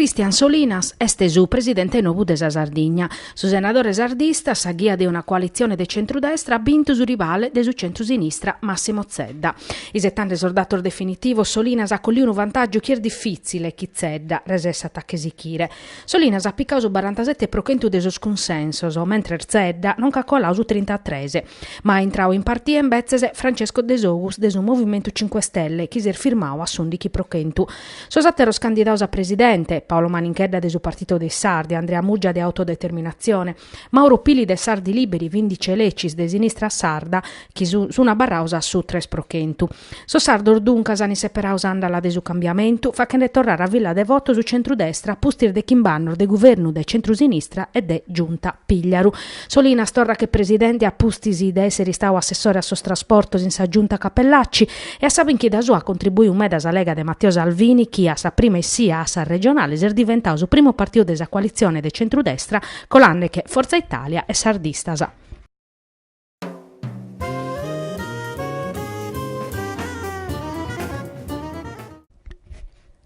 Christian Solinas est su presidente nobu de sa Sardigna. Su senadore sardista, a sa ghia de una coalitzione de centrudestra, at bintu su rivale de su centrusinistra Massimo Zedda. Isetande sos datos definitivos, Solinas at colliu unu vantàgiu chi est difìtzile chi Zedda resessat a che sichire. Solinas at picau su barrantasete pro chentu de sos cunsensos, mentres Zedda non ch'at colau su trintatres. Mai intrau in partia imbetzes Francesco Desogus de su Movimentu Cinque Stelle chi s'est firmau a s'undichi pro chentu. Sos àteros candidados a presidente, Paolo Maninchedda de su Partito dei Sardi, Andrea Murgia de Autodeterminatzione, Mauro Pili de Sardi Liberi Vindice Lecis de Sinistra Sarda chi sun abarraus a su tres pro chentu. Sos sardos duncas an isseperau s'andala de su cambiamentu fachende torrare a Villa Devoto su centrudestra pustis de chimb'annos de guvernu de centrusinistra e de Giunta Pigliaru. Solinas torrat che presidente a pustis de essere istadu assessore a sos trasportos in sa Giunta Cappellacci e a sa binchida sua at contribuiu meda sa Lega de Matteo Salvini chi a sa prima essia a sas regionales est diventadu su primu partidu de sa coalitzione de centrudestra colandeche Forza Italia e Sardistas.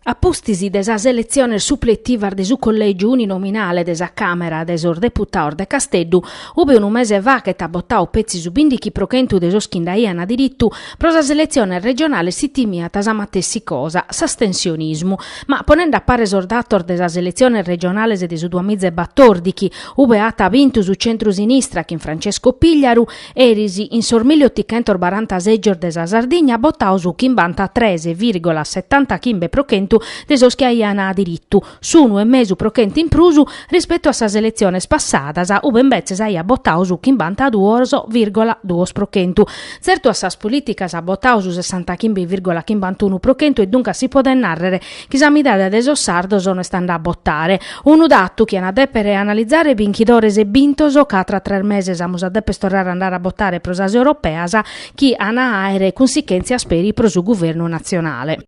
A pustis de sas eletziones supletivas de su collègiu uninominale de sa Càmera de sos Deputados de Casteddu, ube unu mese fachet at botadu petzi su bindichi pro chentu de sos chi nd'aian diritu, pro sas eletziones regionales si timiat sa matessi cosa, s'astensionismu. Ma ponende a pare sos datos de sas eletziones regionales de su duamiza e batordichi, ube at bintu su centru-sinistra chin Francesco Pigliaru, eris, in sos milli otichentos baranta sègios de sa Sardigna, at botau su chimbantatres vìrgola setanta chimbe pro chentu de sos chi aian diritu, s'unu e mesu pro chentu in prus rispetu a sas eletziones passadas, ube imbetzes aiat botau su chimbantaduos vìrgola duos pro chentu. Tzertu a sas polìticas at botadu su sessantachimbe virgola chimbantunu pro chentu e duncas si podet nàrrere chi sa midade de sos sardos no est andada a botare. Unu datu chi an a dèpere analizare binchidores e bintos ca tra tres meses amus a dèpere torrare a andare a botare pro sas europeas chi an a àere cunsichèntzias peri pro su guvernu natzionale.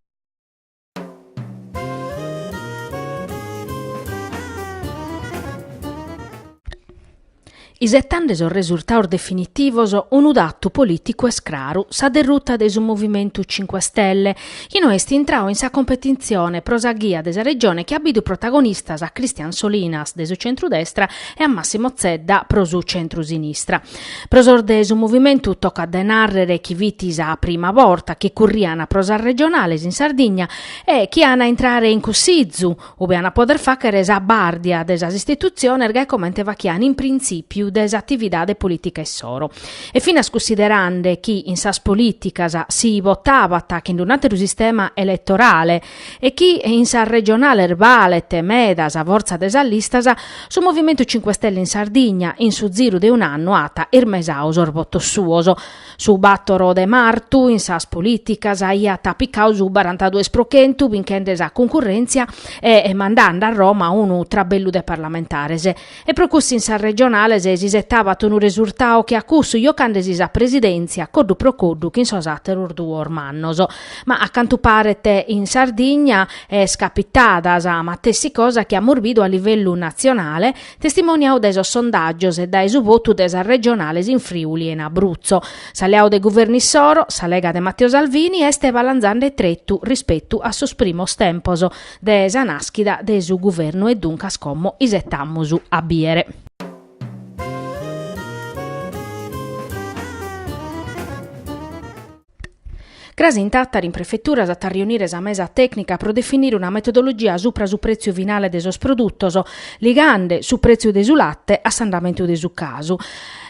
Isetande sos resurtados definitivos, unu datu polìticu est craru, sa derruta de su Movimentu Cinque Stelle, chi no est intradu in sa competitzione pro sa ghia de sa Regione chi at bidu protagonistas a Christian Solinas de su centrudestra e a Massimo Zedda pro su centrusinistra. Pro sos de su Movimentu tocat de nàrrere chi fit sa prima borta chi curriant pro sas regionales in Sardigna e chi ant a intrare in Cussizu, ube ant a poder fàghere sa bàrdia de sas istitutziones gai comente fachiant in printzìpiu de s'atividade polìtica issoro. E finas cussiderende chi in sas polìticas si botabat chin un'àteru sistema eletorale, e chi in sas regionales balet meda sa fortza de sas listas, su Movimentu Cinque Stelle in Sardigna in su ziru de un'annu at irmesadu sos votos suos. Su bàtoro de martu in sas polìticas aiat picadu su barantaduos pro chentu binchende sa cuncurrèntzia e mandende a Roma unu trabellu de parlamentares. E pro cussu in sas regionales s'isetabat unu resurtau che cussu jocande·si sa presidèntzia coddu pro coddu chin sos àteros duos mannos. Ma a cantu paret in Sardigna est capitada sa matessi cosa chi amus bidu a livellu natzionale, testimoniadu dae sos sondàgios e dae su votu de sas regionales in Frìuli e in Abruzzo. S'aliadu de guvernu issoro, sa Lega de Matteo Salvini, est balanzande tretu rispetu a sos primos tempos, de sa nàschida de su guvernu e duncas como isetamus a bìere. Cras in Tàtari in prefetura s'at a riunire sa mesa tècnica pro definire una metodolozia supra su prètziu finale de sos produtos, ligande su prètziu de su late a s'andamentu de su casu.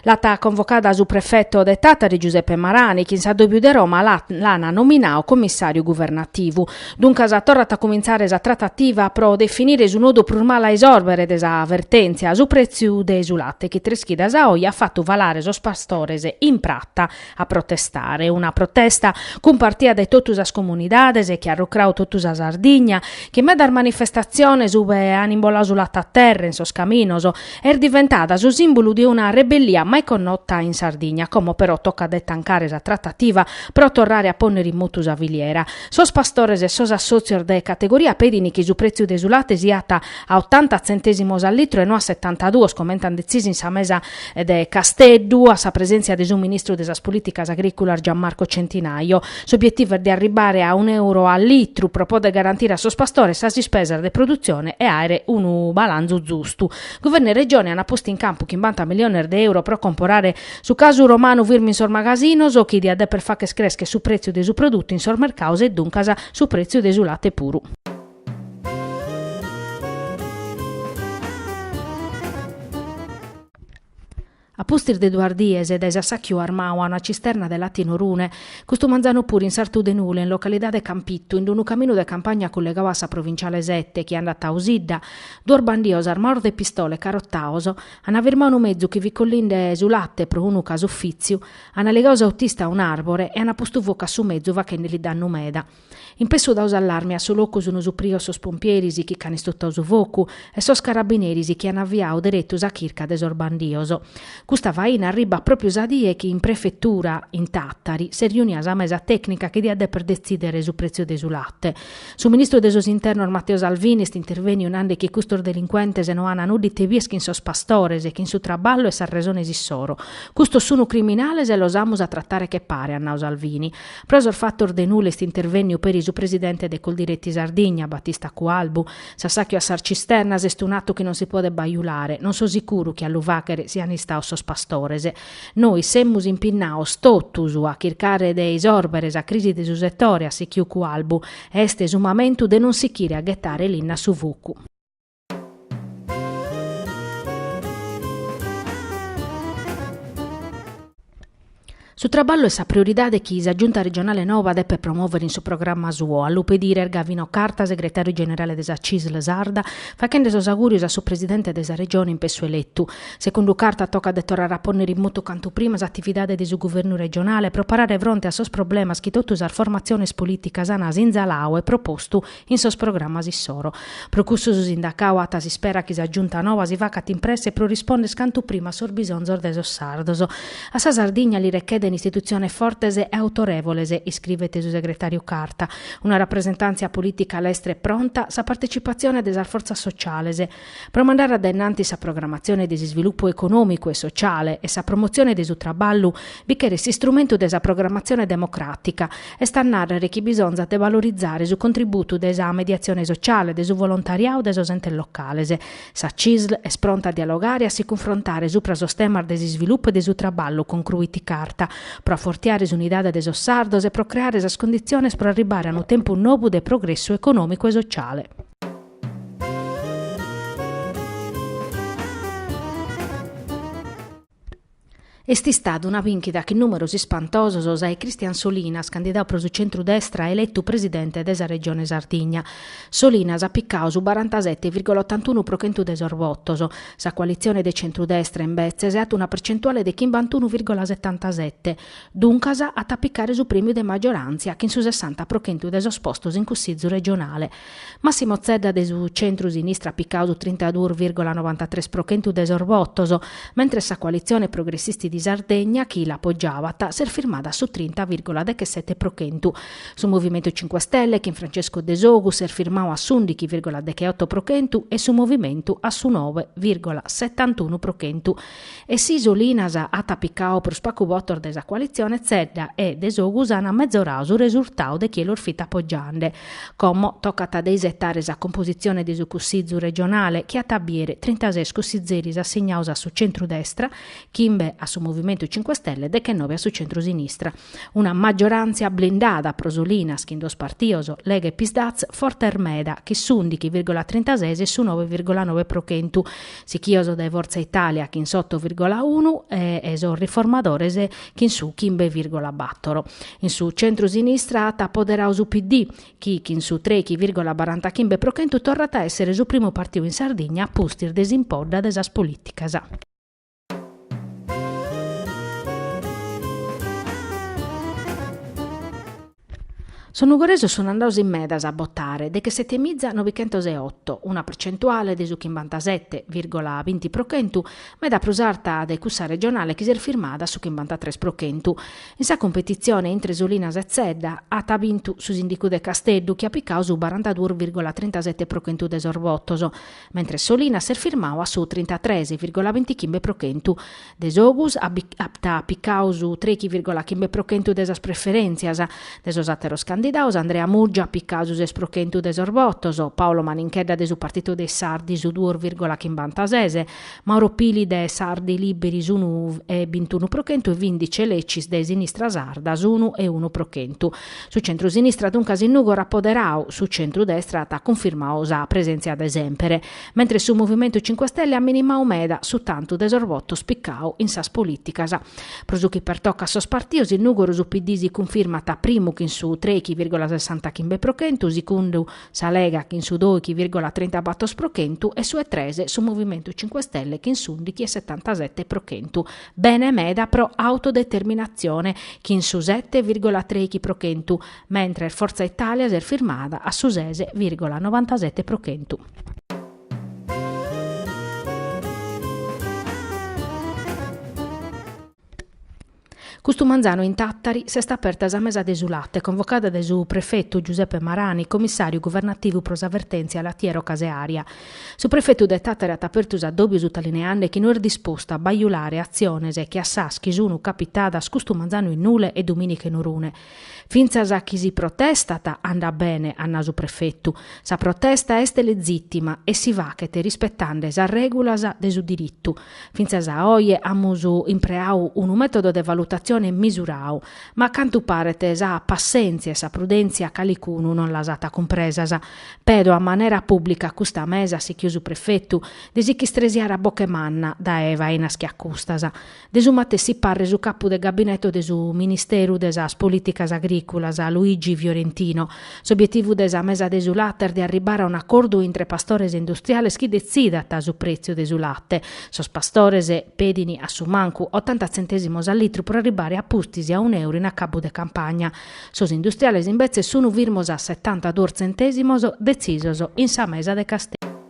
L'at convocada su prefeto de Tàtari Giuseppe Marani chi in s'addòbiu de Roma l'ana nominadu comissàriu guvernativu. Duncas torrat a cumintzare sa tratativa pro definire su nodu prus malu a isòrbere de sa vertèntzia, su prètziu de su late chi tres chidas a oje at fatu falare sos pastores in prata. a protestare, una protesta cumpartia dae totu sas comunidades e chi at rucradu totu sa Sardigna, chin medas manifestatziones ube ant imboladu su late a terra in sos caminos, est diventada su sìmbulu de una rebellia mai connota in Sardigna, como però tocat de tancare sa tratativa pro torrare a pònnere in motu sa filiera. Sos pastores e sos assòtzios de categoria pedint chi su prètziu de su late siat a otanta tzentèsimos a litru e no a setantaduos comente ant detzisu in sa mesa de Casteddu, a sa presèntzia de su ministru de sas Polìticas Agrìculas Gianmarco Centinaio. S'obietivu est de arribare a un'euro a litru pro poder garantire a sos pastores sas ispesas de produtzione e àere unu balanzu zustu. Guvernu e Regione ant postu in campu chimbanta miliones de euro pro comporare su casu romanu firmu in sos magasinos, chi diat dèpere fàcher crèschere su prètziu de su produtu in sos mercados e duncas su prètziu de su late puru. A pustis de duas dies dae s'assàchiu armau a una cisterna de late in Orune, custu manzanu puru in sartu de Nule in localidade Campitu in d-unu caminu de campagna cullegau a sa provinciale sete chi andat a Osidda, duos bandios armaos de pistola e carotaos ana firmau unu mezu chi fit collinde su late pro unu casufìtziu, ana ligau s'autista a un'àrbore e ana postu focu a su mezu fachende-li dannu meda. In pessu dau s'allarmi a su locu sunu suprios sos pompieris chi ch'an istutau su focu e sos carabineris chi an aviau deretu sa chirca de sos bandios. Custa faina arribbat pròpiu sa die chi in prefetura, in Tàtari, s'est riunia sa mesa tècnica chi diat dèper detzìdere su pretziu de su late. Su ministru de sos Internos Matteo Salvini est intervèniu nande chi custos delincuentes no an nudda ite bìer chin sos pastores, chin su traballu e sas resones issoro. Custos sunu criminales e los amus a tratare che pare, at nau Salvini. Pro sos fatos de Nule est intervènniu peri su presidente de Coldiretti Sardigna, Battista Cualbu. S'assàchiu a sas cisternas est un'atu chi non si podet bajulare. Non so sicuru chi a lu fàchere sian istaos sos pastores. Nois semus impinnaos totus a chircare de isòrbere sa crisi de su setore, at sichiu Cualbu, est su mamentu de non sichire a ghetare linna a su focu. Su traballu est sa prioridade chi sa Giunta Regionale noba depet promòvere in su programma suo, a lu pedire Gavino Carta, segretàriu generale de sa CISL sarda, fachende sos augùrios a su presidente de sa Regione in pessu eletu. Secundu Carta tocat de torrare a pònnere in motu cantu prima s'atividade de su guvernu regionale pro parare fronte a sos problemas chi totu sas formatziones polìticas ant sinzalau e propostu in sos programmas issoro. Pro cussu su sindacau at s'ispera chi sa Giunta noba si facat in presse pro risponder cantu prima a sos bisonzos de sos sardos. A sa Sardigna li rechedent istitutziones fortes e autorèvoles, iscrivet su segretàriu Carta, una rapresentàntzia polìtica lestra e pronta, sa partecipatzione de sas fortzas sociales, Pro mandare a dae nanti sa programatzione de s'isvilupu econòmicu e sociale e sa promotzione de su traballu bi cheret s'istrumentu de sa programatzione democràtica, est a nàrrere chi bisonzat de valorizare su contributu de sa mediatzione sociale, de su volontariau, de sos entes locales. Sa CISL est pronta a dialogare e a si cunfrontare supra sos temas de s'isvilupu e de su traballu, concruit Carta, pro afortiare s'unidade de sos sardos e pro creare sas conditziones pro arribare a unu tempus nobu de progressu econòmicu e sociale. Est istada una bìnchida chin nùmeros ispantosos sa 'e Christian Solinas, candidau pro su centru-destra e eletu presidente de sa Regione Sardigna. Solinas at picau su barantasete vìrgola otantunu pro chentu de sos botos. Sa coalitzione de centru-destra, imbetzes, at una percentuale de chimbantunu vìrgola setantasete. Duncas, at a picare su prèmiu de maggioràntzia chin su sessanta pro chentu de sos postos in Cussizu regionale. Massimo Zedda de su centru-sinistra at picadu trintaduus virgola novantatres pro chentu de sos votos, mentres sa Coalitzione Progressisti di Sardegna, chi l'apogiabat, s'est firmada a su trinta virgola dechesete pro chentu. Su Movimentu Cinque Stelle, chin Francesco Desogus, s'est firmadu a s'undighi virgola decheoto pro chentu e su Movimentu a su noe virgola setantunu pro chentu. E si Solinas at picau prus pacu votos de sa coalitzione, Zedda e Desogus an mezorau su resurtau de chie los fit apogiande. Como, tocat de isetare sa compositzione de su Cussizu regionale, chi at a biere trintases cussizeris assignaus a su centru-destra, chimbe a su Movimentu Cinque Stelle, dechenobe a su centru-sinistra. Una maggioràntzia blindada pro Solinas, chin duos partidos Lega e Psd'Az fortes meda, chin s'ùndighi virgola trintases e su nobe virgola nobe pro chentu, sichios dae Forza Italia chin s'oto virgola unu e sos Riformadores chin su chimbe virgola bator. In su centru-sinistra at apoderadu su PD chi, chin su trechi virgola barantachimbe pro chentu, torrat a èssere su primu partiu in Sardigna a pustis de s'impodda de sas polìticas. Sos nugoresos sun andados in medas a botare, dechesetemiza nobichentos e otto, una percentuale de su chimbantasette virgola binti pro chentu, meda prus arta de cussa regionale chi s'est firmada a su chimbantatres pro chentu. In sa cumpetitzione intre Solinas e Zedda at bintu su sìndicu de Casteddu chi at picadu su barantaduos virgola trintasette pro chentu de sos votos, mentres Solinas s'est firmadu a su trintatres virgola bintichimbe pro chentu. Desogus at picau su trechi virgola chimbe pro chentu de sas preferèntzias. De sos àteros candidados, Andrea Murgia at picau su ses pro chentu de sos votos, Paolo Maninchedda de su Partito dei Sardi su duos virgola chimbantases, Mauro Pili de Sardi Liberi s'unu e bintunu pro chentu e Vindice Lecis de Sinistra Sarda s'unu e unu pro chentu. Su centru-sinistra duncas in Nùgoro at apoderau, su centru-destra at cunfirmau sa presèntzia de semper. Mentres su Movimentu Cinque Stelle at minimau meda su tantu de sos votos picau in sas polìticas. Pro su chi pertocat sos partidos in Nùgoro su PD si cunfirmat primu chin su treighi vìrgola sessanta chimbe pro chentu, sigundu sa Lega chin su doighi vìrgola trinta bator pro chentu e su 'e tres su Movimentu Cinque Stelle chin s'undighi e setantasete pro chentu. Bene meda pro Autodeterminatzione chin su sete vìrgola treighi pro chentu. mentres Forza Italia s'est firmada a su ses virgola novantasete pro chentu. Custu manzanu in Tàtari s'est aperta sa mesa de su late convocada dae su prefetu Giuseppe Marani, comissàriu guvernativu pro sa vertèntzia latiero-caseària. Su prefetu de Tàtari at apertu s'addòbiu sutalineande chi no est dispostu a bajulare atziones che a sas chi sun capitadas custu manzanu in Nule e dumìnica in Orune. Fintzas a chi si protestat andat bene, at nau su prefetu. Sa protesta est legitima e si faghet rispetande sas regulas de su diritu. Fintzas a oje amus impreau unu metodo de valutatzione misurau, ma a cantu paret sa passentzia e sa prudentzia calicunu non las at cumpresas. Pedo a manera publica a custa mesa, at sichiu su prefetu, de si ch'istresiare a boche manna dae fainas che a custas. De su matessi parre su capu de gabineto de su Ministeru de sas Polìticas Agrìculas, Luigi Fiorentino. S'obietivu de sa mesa de su late est de arribbare a un'acordu intre pastores e industriales chi detzidant su prètziu de su late. Sos pastores pedint a su mancu otanta tzentèsimos a litru pro arribbare a pustis a un'euru in acabu de campagna. Sos industriales imbetzes sunt firmos a setanta duos tzentèsimos detzisos in sa mesa de Casteddu.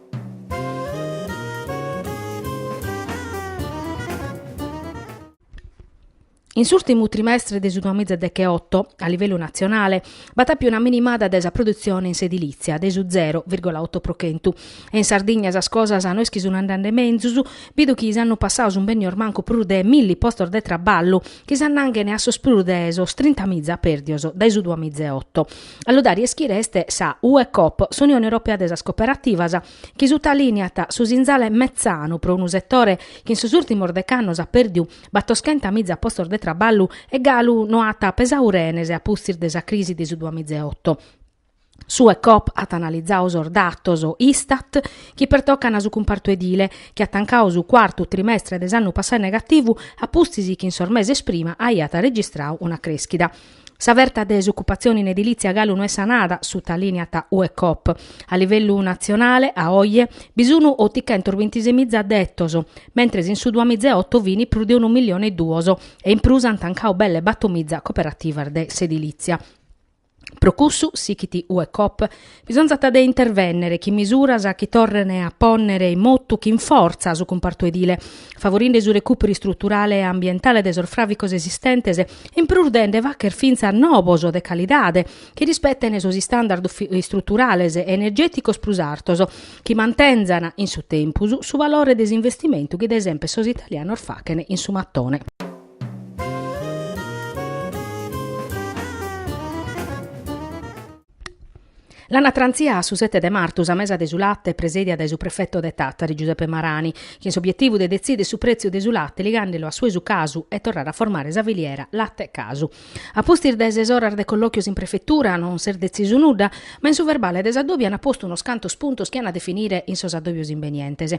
In s'ùrtimu trimestre de su duamiza decheoto, a livellu natzionale, b'at appiu una minimada de sa produtzione in s'edilìtzia de su zero virgola oto pro chentu. E in Sardigna sas cosas no est chi sun andande menzus, bidu chi s'annu passau sun bennios mancu prus de milli postos de traballu, chi s'annanghene a sos prus de sos trintamiza pèrdios dae su duamiza e oto. A lu dare a ischire est sa Ue Coop, s'Unione Europea de sas Cooperativas, chi sutalìniat su sinzale metzanu pro unu setore chi in sos ùrtimos dech'annos at pèrdiu batoschenta miza postos de traballu e galu no at pesau renes a pustis de sa crisi de su duamizaeoto. S'Ue Coop at analizau sos datos Istat chi pertocan su cumpartu edile, chi at tancau su cuartu trimestre de s'annu passau negativu a pustis chi in sos meses prima aiat registrau una crèschida. Sa ferta de s'ocupatzione in edilìtzia galu no est sanada, sutalìniat Ue Coop. A livellu natzionale, a oje, bi sun otichentos bintises miza addetos, mentres in su duamizeoto fini prus de unu milione e duos, e in prus an tancau belle bato miza cooperativas de s'edilìtzia. Pro cussu, sichit Ue Coop, Bisonzat de intervennere chin misuras chi torrene a ponnere in motu chin fortza su cumpartu edile, favorinde su recùperu istruturale e ambientale de sos fràvicos esistentes, in prus de nde fàcher fintzas nobos de calidade, chi rispetene sos istandard istruturales e energèticos prus artos, chi mantenzan, in su tempus, su valore de s'investimentu chi dae semper sos italianos fachene in su matone. L'ana trantzia a su sete de martu sa mesa de su late presèdia dae su prefeto de Tàtari, Giuseppe Marani, chin s'obietivu de detzìdere su prètziu de su late ligàndelu a su 'e su casu e torrare a formare sa filiera late casu. A pustis dae ses oras de collòchios in prefetura non s'est detzisu nudda, ma in su verbale de s'addòbiu ana postu unos cantos puntos chi ana a definire in sos addòbios imbenientes.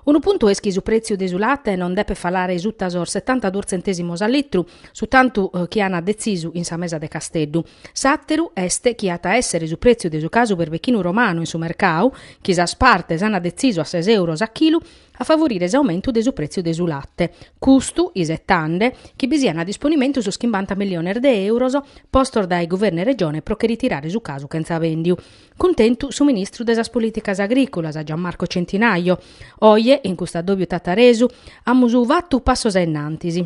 Unu puntu est chi su prètziu de su late non depet falare sutta sos setanta duos tzentèsimos a litru, Su tantu chi an detzisu in sa mesa de Casteddu. S'àteru est chi at a èssere su prètziu de su casu berbechinu romanu in su mercau, chi sas partes an detzisu a ses euros a chilu, a favorire s'aumentu de su prètziu de su late. Custu isetande chi bi sian a disponimentu sos chimbanta milliones de euros postos dae Guvernu e Regione pro che ritirare su casu chentza vèndiu. Cuntentu su ministru de sas Polìticas Agrìculas, Gianmarco Centinaio. Oje, in custu addòbiu tataresu, amus fatu passos a innantis.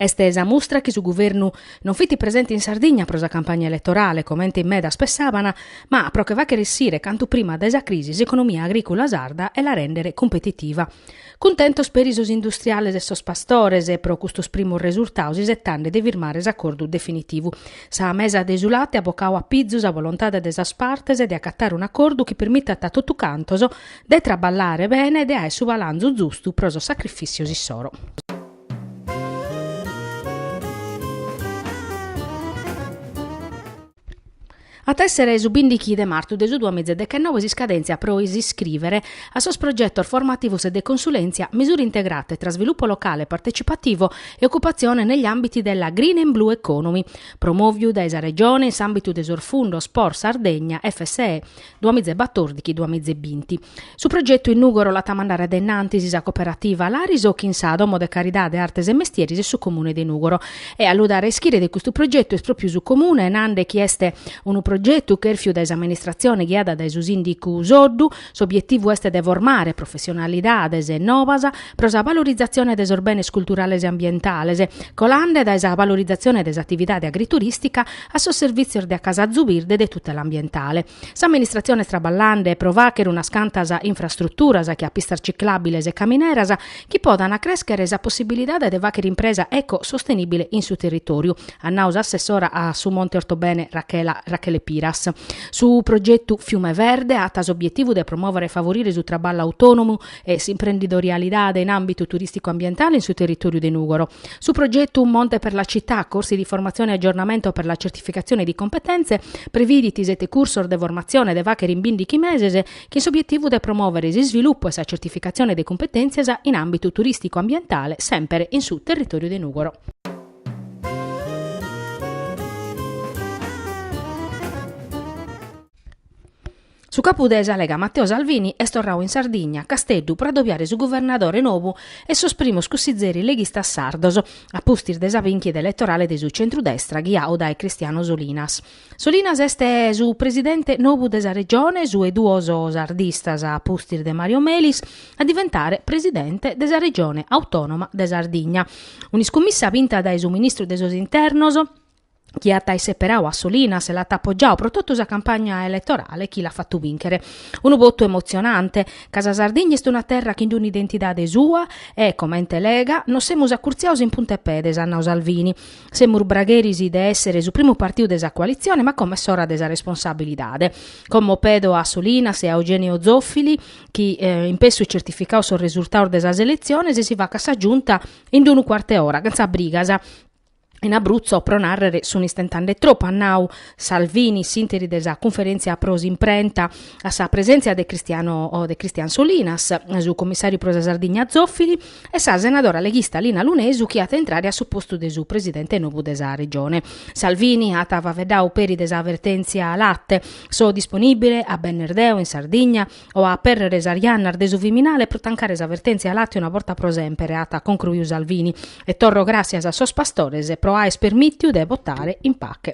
Est sa mustra chi su guvernu non fit presente in Sardigna pro sa campagna eletorale, comente in medas pessàbana, ma pro che fàghere essire cantu prima dae sa crisi s'economia agrìcula sarda e la rèndere cumpetitiva. Cuntentos peri sos industriales e sos pastores pro custos primos resurtaos isetande de firmare s'acordu definitivu. Sa mesa de su late at bocau a pizu sa volontade de sas partes de acatare un'acordu chi permitat a totu cantos De traballare bene e de aer su balanzu zustu pro sos sacrifìtzios issoro. At a èssere su bìndighi de martu de su duamiza e dechenoe s'iscadèntzia pro s'iscrìvere a sos progetos formativos e de consulèntzia Misure integrate tra sviluppo locale partecipativo e occupazione negli ambiti della Green and Blue Economy, promòviu dae sa Regione in s'àmbitu de sos fundos POR Sardegna FSE, duamizebbatòrdichi-duamizebinti. Su progetu in Nùgoro l'at a mandare a dae in antis sa Coperativa Lariso chin sa Domo de Caridade Artes e Mestieris e su Comune de Nùgoro. E a lu dare a ischire de custu progetu est pròpiu su Comune, nande chi est unu progetu chèrfiu dae s'amministratzione ghiada dae su sìndicu Soddu, s'obietivu est de formare professionalidades nobas pro sa valorizatzione de sos benes culturales e ambientales, colande dae sa valorizatzione de s'atividade agriturìstica a sos servìtzios de acasazu birde de tutela ambientale. S'amministratzione est traballande pro fàghere unas cantas infrastruturas che a pistas ciclàbiles e camineras chi potan crèschere sa possibilidade de fàghere impresa eco-sostenìbile in su territòriu, at nau s'assessora a su Monte Ortobene Rachela Rachele Piras. Su progetu Fiume Verde at s'obietivu de promòvere e favorire su traballu autònomu e s'imprendidorialidade in àmbitu turìsticu-ambientale in su territòriu de Nùgoro. Su progetu Un Monte per la Città, corsi di formazione e aggiornamento per la certificazione di competenze, previdit sete cursos de formatzione de fàghere in bìndighi meses, chin s'obietivu de promòvere s'isvilupu e sa certificatzione de cumpetèntzias in àmbitu turìsticu-ambientale semper in su territòriu de Nùgoro. Su capu de sa Lega Matteo Salvini est torrau in Sardigna, in Casteddu, pro adobiare su guvernadore nou e sos primos cussizeris leghistas sardos, a pustis de sa bìnchida eletorale de su centru-destra ghiau dae Christian Solinas. Solinas est su presidente nou de sa Regione, su 'e duos sardistas a pustis de Mario Melis a diventare presidente de sa Regione Autònoma de Sardigna. Un'iscummissa binta dae su ministru de sos Internos, chi at isseperau a Solinas e l'at apogiau pro totu sa campagna eletorale chi l'at fatu bìnchere. Unu votu emotzionante, ca sa Sardigna est una terra chin d'un'identidade sua e, comente Lega, nos semus acurtziados in punta 'e pedes, at nau Salvini. Semus bragheris de èssere su primu partiu de sa coalitzione, ma como est s'ora de sa responsabilidade. Como pedo a Solinas e a Eugenio Zoffili, chi in pessu tzertificaus sos resurtados de sas eletziones, si facat sa giunta in unu cuartu 'e ora, chentza brigas, In Abruzzo, pro nàrrere, sun istentende tropu, at nau Salvini s'interi de sa cunferèntzia pro s'imprenta, a sa presèntzia de Christian Solinas, su comissàriu pro sa Sardigna Zoffili e sa senadora leghista Lina Lunesu chi at a intrare a su postu de su presidente nobu de sa Regione. Salvini at faveddau peri de sa vertèntzia Latte, so disponìbile a bènner deo in Sardigna o a aperrere sas jannas de su Viminale pro tancare sa vertèntzia latte una borta pro semper, at concruiu Salvini. E torro gràtzias a sos pastores pro aer permìtiu de botare in pache.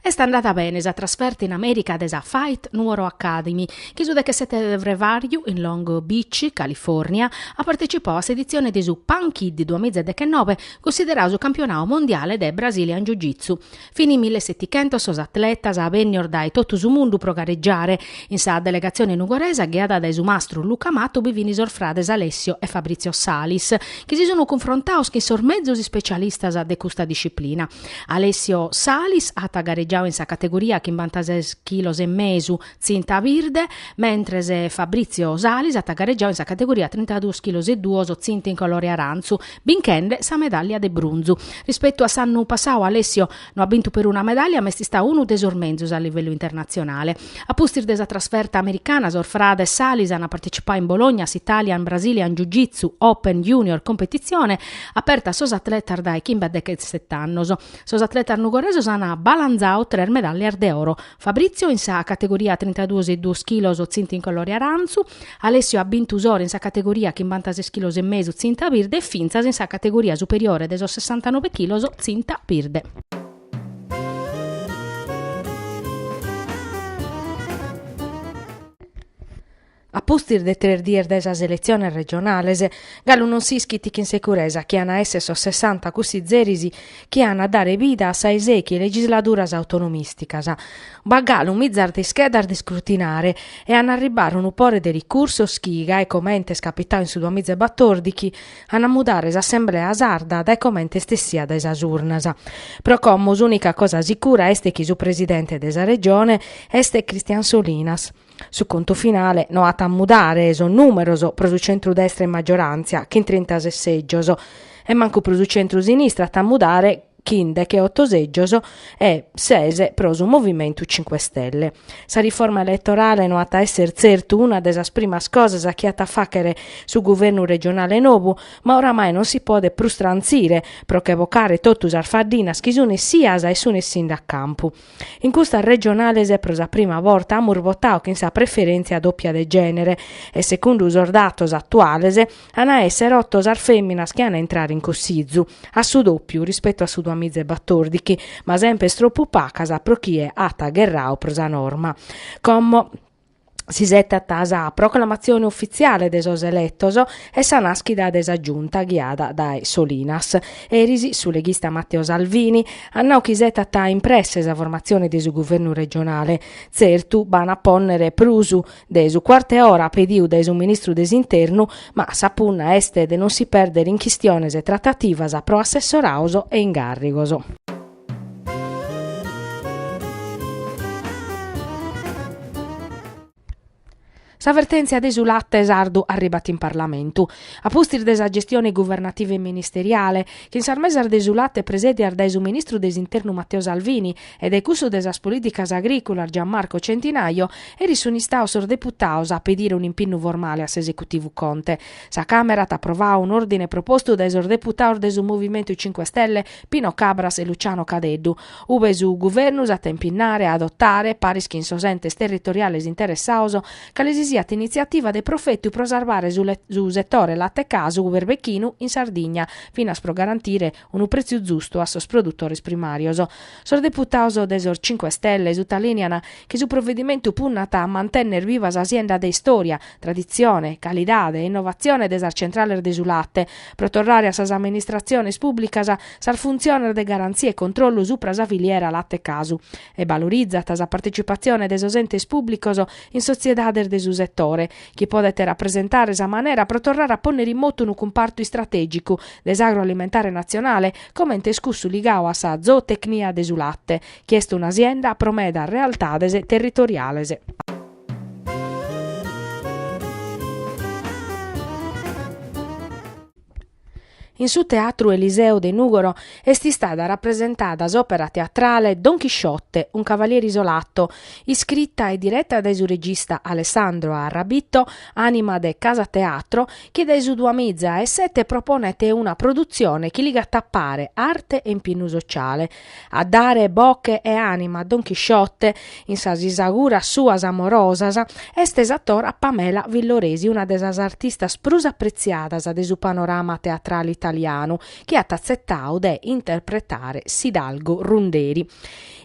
Est andada bene sa trasferta in Amèrica de sa Fight Nuoro Academy, chi su dechesete de frevàriu, in Long Beach, Califòrnia, at partetzipau a s'editzione de su Pankid duamiza e dechenobe cunsiderau su campionau mondiale de Brazilian Jiu Jitsu. Fin in mille e setichentos sos atletas bènnios dae totu su mundu pro garegiare. In sa delegatzione nugoresa ghiada dae su mastru Luca Matto bi fin sos frades Alessio e Fabrizio Salis, chi si sun cunfrontados chin sos menzus ispecialistas de custa disciplina. Alessio Salis at garegiadu in sa categoria a chimbantases chilos e mesu, tzinta birde, mentres Fabrizio Salis at garegiadu in sa categoria a trintaduos chilos e duos tzinta in colore arantzu, binchende sa medàllia de brunzu. Rispetu a s'annu passau, Alessio no at bintu peruna medàllia ma est istau unu de sos menzus a livellu internatzionale. A pustis de sa trasferta americana, sos frades Salis ant partetzipau in Bologna a s'Italian Brazilian Jiu-Jitsu Open Junior competitzione aperta a sos atletas dae chimbe a deghe-e-sete annos. Sos atletas nugoresos ant balanzau tres medàllias de oro. Fabrizio in sa categoria trintaduos e duos chilos tzinta in colore arantzu, Alessio at bintu s'oro in sa categoria chimbantases chilos e mesu tzinta birde e fintzas in sa categoria superiore de sos sessantanobe chilos tzinta birde. A pustis de tres dies dae sas eletziones regionales, galu non si ischit chin seguresa chi an a èssere sos sessanta cussizeris chi an a dare vida a sa sèighi legisladuras autonomìsticas. B'at galu mizas de ischedas de iscrutinare e an a arribbare unu pore de ricursos chi, gae comente est capitadu in su duamìgia e batòrdighi, an a mudare s'assemblea sarda dae comente est essida dae sas urnas. Pro como, s'ùnica cosa sicura est chi su presidente de sa Regione est Christian Solinas. Su contu finale no at a mudare sos nùmeros pro su centrudestra in maggiorantzia chin trintases sègios e mancu pro su centrusinistra at a mudare chin degheoto sègios e ses pro su Movimentu Cinque Stelle. Sa riforma eletorale no at a èssere tzertu una de sas primas cosas chi at a fàghere su guvernu regionale nou, ma oramai non si podet prus trantzire pro che vocare totu sas faddinas chi sun essias e sun essinde a campu. In custas regionales pro sa prima borta amus votadu chin sa preferèntzia dòpia de gènere e segundu sos datos atuales an a èssere oto sas fèminas chi an a intrare in Cussizu, a su dòpiu rispetu a su duas miza e batordighi, ma semper tropu pacas pro chie at gherradu pro sa norma. Como. s'isetat sa proclamatzione ufitziale de sos eletos e sa nàschida de sa Giunta ghiada dae Solinas. Eris su leghista Matteo Salvini at nau chi isetat in presse sa formatzione de su guvernu regionale. Tzertu b'an a pònnere prus de su cuartu 'e ora pediu dae su ministru de s'Internu, ma sa punna est de non si pèrdere in chistiones e tratativas pro assessorados e ingàrrigos. Sa vertèntzia de su late sardu arribat in Parlamentu. A pustis de sa gestione guvernativa e ministeriale, chin sas mesas de su late presèdias dae su ministru de s'Internu Matteo Salvini e dae cussu de sas Polìticas Agrìculas Gian Marco Centinaio, eris sunt istados sos deputados a pedire un'impinnu formale a s'esecutivu Conte. Sa Càmera at aprovadu un'òrdine propostu dae sos deputados de su Movimentu Cinque Stelle Pino Cabras e Luciano Cadeddu. Ube su Guvernu s'at a impinnare a adotare, paris chin sos entes territoriales interessados, cale si siat initziativa de profetu pro sarbare su setore late-casu berbechinu in Sardigna, finas pro garantire unu pretziu zustu a sos produtores primàrios. Sos deputados de sos Cinque Stelle sutalìnian chi su provedimentu punnat a mantènnere viva sa sienda de istòria, traditzione, calidade e innovatzione de sas centrales de su late, pro torrare a sas amministratziones pùblicas sas funtziones de garantzia e controllu supra sa filiera late-casu e balorizat sa partetzipatzione de sos entes pùblicos in sotziedades de su setore chi podet rapresentare sa manera pro torrare a pònnere in motu unu cumpartu istratègicu de s'agroalimentare natzionale comente est cussu ligadu a sa zootecnia de su late chi est una sienda pro medas realtades territoriales. In su Teatru Eliseu de Nùgoro est istada rapresentada s'òpera teatrale Don Chisciotte, un cavaliere isolato, iscrita e direta dae su regista Alessandro Arrabito, ànima de Casa Teatro, chi dae su duamiza e sete proponet una produtzione chi ligat a pare arte e impinnu sociale, A dare boche e anima a Don Chisciote in sas disauras suas amorosas est s'atora Pamela Villoresi una de sas artistas prus apretziadas de su panorama teatrale italianu chi at atzetau de interpretare s'idalgo runderi.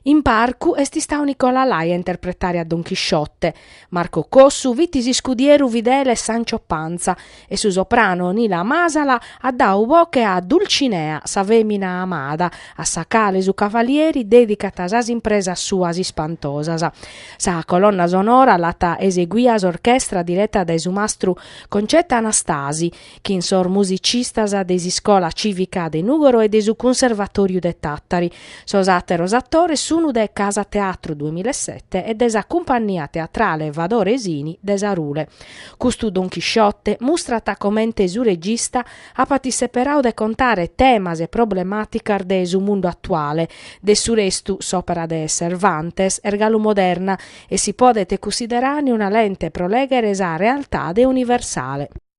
In parcu est istau Nicola Lai a interpretare a Don Chisciote. Marco Cossu fit s'iscudieru fidele Sancho Panza e su soprano Nila Masala at dau boche a Dulcinea, sa fèmina amada, a sa cale su cavalieri dèdicat sas impresas suas ispantosas. Sa colonna sonora l'at eseguia s'orchestra direta dae su mastru Concetta Anastasi, chin sos musicistas de s'Iscola Cìvica de Nùgoro e de su Cunservatòriu de Tàtari. Sos àteros atores sunu de Casa Teatru duamiza e sete e de sa Cumpannia Teatrale Vadore Sini de Sarule. Custu Don Chisciote mustrat comente su regista apat isseperau de contare temas e problemàticas de su mundu atuale. De su restu, s'òpera de Cervantes est galu moderna e si podet cunsiderare una lente pro lèghere sa realtade universale.